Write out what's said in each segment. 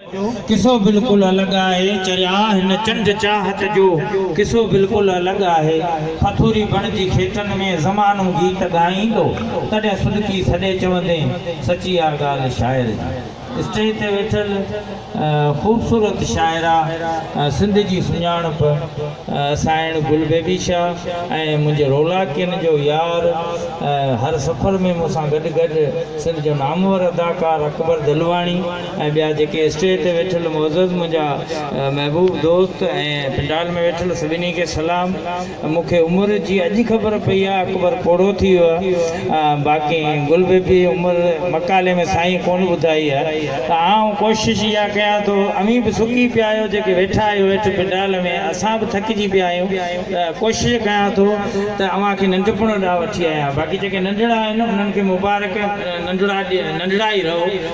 قصو بلڪل الڳ آهي چريا هن چنڊ چاهت جو قصو بلڪل الڳ آهي پٿوري بڻ جي کيتن ۾ زمانو گيت ڳائيندو تڏهن سڏڪي سڏي چوندين سچي آ ڳالهه شاعر جي اسٽيج تي ويٺل خوبصورت شاعره سنڌ جي سڃاڻپ سائڻ گل بيبي شاهه ۽ منهنجي رولاڪين جو يار هر سفر ۾ مون سان گڏ گڏ سنڌ جو نامور اداڪار اڪبر دلواڻي ۽ ٻيا جيڪي اسٽيج تي ويٺل معزز منهنجا محبوب دوست ۽ پنڊال ۾ ويٺل سڀني کي سلام مون کي عمر جي اڄ خبر پئي آ اڪبر پوڙهو ٿي ويو آ باقي گل بيبي عمر مقالي ۾ سائين ڪون ٻڌائي آ ته آئون ڪوشش اها ڪيان ٿو اوهين به سڪي پيا آهيو جيڪي ويٺا آهيو هيٺ پنڊال ۾ اسان به ٿڪجي پيا آهيون ته ڪوشش ڪيان ٿو ته اوهان کي ننڍپڻ ڏانهن وٺي آيان باقي جيڪي ننڍڙا آهن انهن کي مبارڪ ننڍڙا ننڍڙا ئي رهو.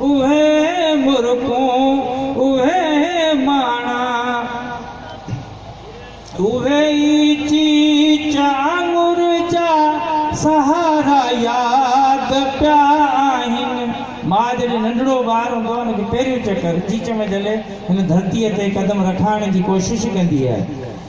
اهي مرڪون، اهي ماڻا، اهي ئي چيچ آڱر جا سهارا ياد پيا آهن. ماء جڏهن ننڍڙو ٻار هوندو آهي، ان کي پهريون چڪر چيچ ۾ جهلي هن ڌرتيء تي قدم رکائڻ جي ڪوشش ڪندي آهي.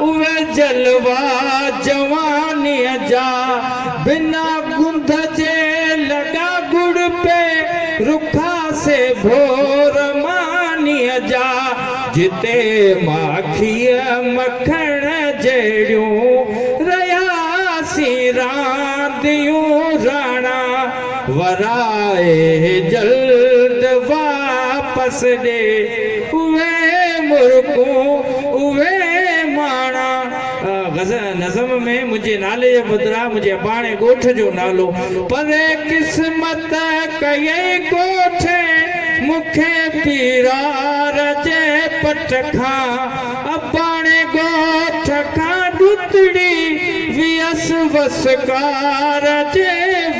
اهي جلوا جوانيء جا، بنا گند جي لڳا ڳڙ پئي، رکا سي ڀور مانيء جا، جتي ماکيء مکڻ جهڙيون، رهياسين رانديون راڻا. ورائي جلد واپس ڏي اهي مرڪون اهي ماڻا. غز نظم ۾ منهنجي نالي جي بدران منهنجي اباڻي ڳوٺ جو نالو پري قسمت ڪيئي ڳوٺي مون کي پيرار جي پٽ کان. اباڻي ڳوٺ کان ڏتڙي ويس وسڪار جي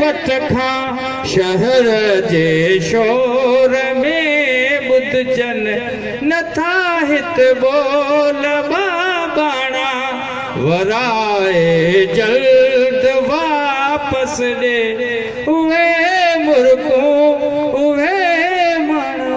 وٽ کان شهر جي شور ۾ ٻڌجن نٿا هت ٻول ٻه ٻاڻا ورائي جلد واپس ڏي اهي مرڪون اهي ماڻا.